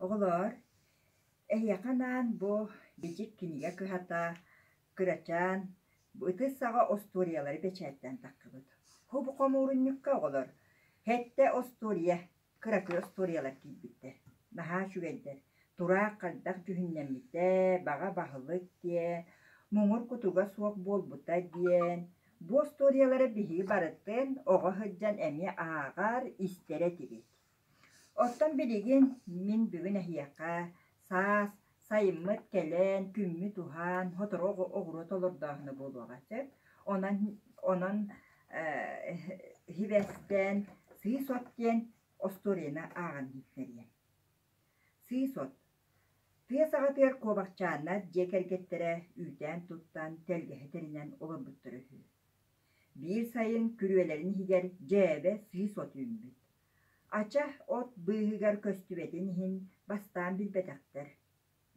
Оҕолоор, эһиэхэ анаан бу Бичик кинигэ кыһата кырачаан ытыс саҕа остуоруйалары бэчээттээн тахсыбыт. Бу хомуурунньукка оҕолор Хэттэ остуоруйа, кыракый остуоруйалар киирбиттэр. Наһаа үчүгэйдэр. Тураах хайдах дьүһүннэммитэ, баҕа баһылык диэ, муҥур кутуга суох буолбута диэн Бу остуоруйалары биһии барытын оҕо сылдьан эмиэ ааҕар, истэр этибит. Оттон билигин мин бүгүн эһиэхэ саас сайыммыт кэлэн, күммүт уһаан, сотору оҕуруот олордооһуна буолуоҕа сөп. Онон онон э, сибэстэн сыыс от диэн остуоруйаны ааҕан иһиттэриэм. Сыыс-от, тыа саҕатыгар куобахчааннар дьиэ кэргэттэрэ үүтээн-туттан, тэлгэһэ тэринэн олорбуттара үһү. Биир сайын күрүөлэрин иһигэр дьээбэ сыыс от үүммүт. Ача от быыһыгар көстүбэтин иһин бастаан билбэтэхтэр.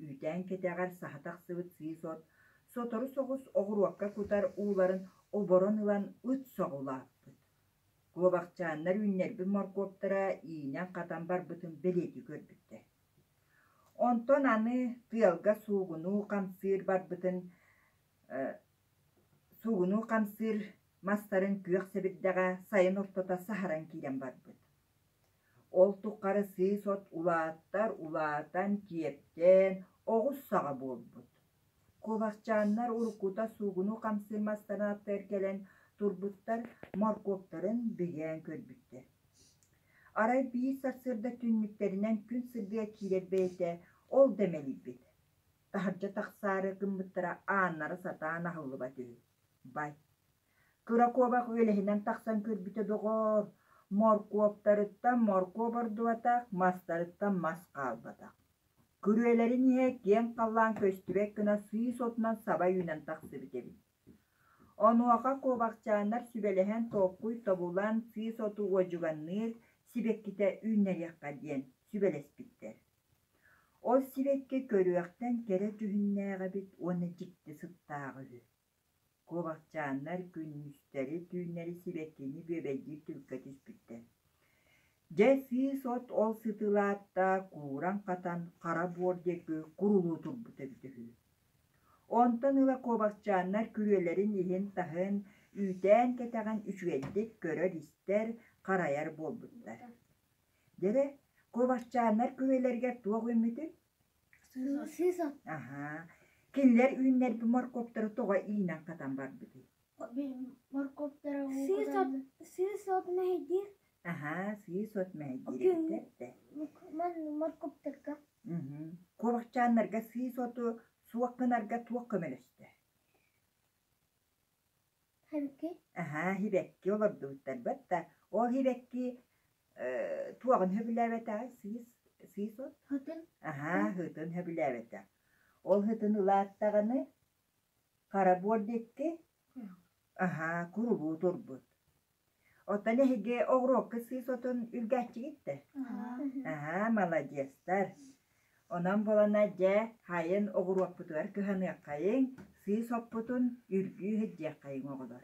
Үүтээн кэтэҕэр саһа тахсыбыт сыыс от сотору соҕус оҕуруокка кутар ууларын оборон ылан ыт соҕулааппыт. Куобахчааннар үүннэрбит моркуоптара иинэн-хатан барбытын бэлиэтии көрбүттэр. Онтон аны тыалга суугунуу хамсыыр барбытын суугунуу хамсыыр мастарын күөх сэбирдэҕэ сайын ортото саһаран киирэн барбыт. Ол туххары сыыс от улааттар-улаатан, киэптээн, оҕус саҕа буолбут Куобахчааннар уруккута суугуну хамсыыр массанааттар кэлэн турбуттар, моркуоптарын бигээн көрбүттэр. Арай биир сарсыарда түннүктэринэн күн сырдыга киирэр бэйэтэ ол да мэлийбит, таһырдьа тахсаары гыммыттара ааннара сатаан аһыллыбат үһү. Бай, кыра куобах үөлэһинэн тахсан көрбүтэ доҕоор, моркуоптарыттан моркуоп ордубатах, мастарыттан мас хаалбатах. Күрүөлэрин иһэ киэҥ халлаан көстүбэт гына сыыс отунан саба үүнэн тахсыбыт эбит. Онуоха куобахчааннар сүбэлэһэн толкуй тобулан сыыс оту уодьуганныыр сибэккитэ үүннэриэххэ диэн сүбэлэспиттэр. Ол сибэкки көрүөхтэн кэрэ түһүннээх эбит уонна дьикти сыттааҕа үһү. Куобахчааннар күннүстэри-түүннэри сибэккини бүөбэйдиир түбүккэ түспүттэр Дьэ сыыс-от ол сытыылаатта кууран-хатан хара буор диэки курулуу турбута эбитэ үһү. Онтон ыла куобахчааннар күрүөлэрин иһин-таһын, үүтээн-кэтэҕин үчүгэйдик көрөр-истэр, харайар буолбуттар. Дьэ, куобахчааннар күрүөлэригэр туох үммүтүй? Аһаа, кинилэр үүннэрбит моркуоптары тоҕо иинэн-хатан барбытый? Сыыс-от мэһэйдиир. Аһаа, сыыс-от мэһэйдиириттэр да. Моркуоптарга. Куобахчааннарга сыыс оту суох гынарга туох көмөлөстө? Аһаа, иһибэкки олордубуттарбыт да, ол иһибэкки э, туоҕун сөбүлээбэтэҕи сыыс, сыыс от. Аһаа, ыһытын сөбүлээбэтэ. Ол ыһытын ылааттаҕына хара буор диэки, аһаа, курубуу турбут. Оттон эһиги оҕуруокка сыыс отун үргээччигиттэр. Аһаа, маладьыастар. Онон буолана, дьэ, хайын оҕуруоппутугар кыһаныаххайыҥ, сыыс оппутун үрдүү иһирдиэххэйиҥ, оҕолор.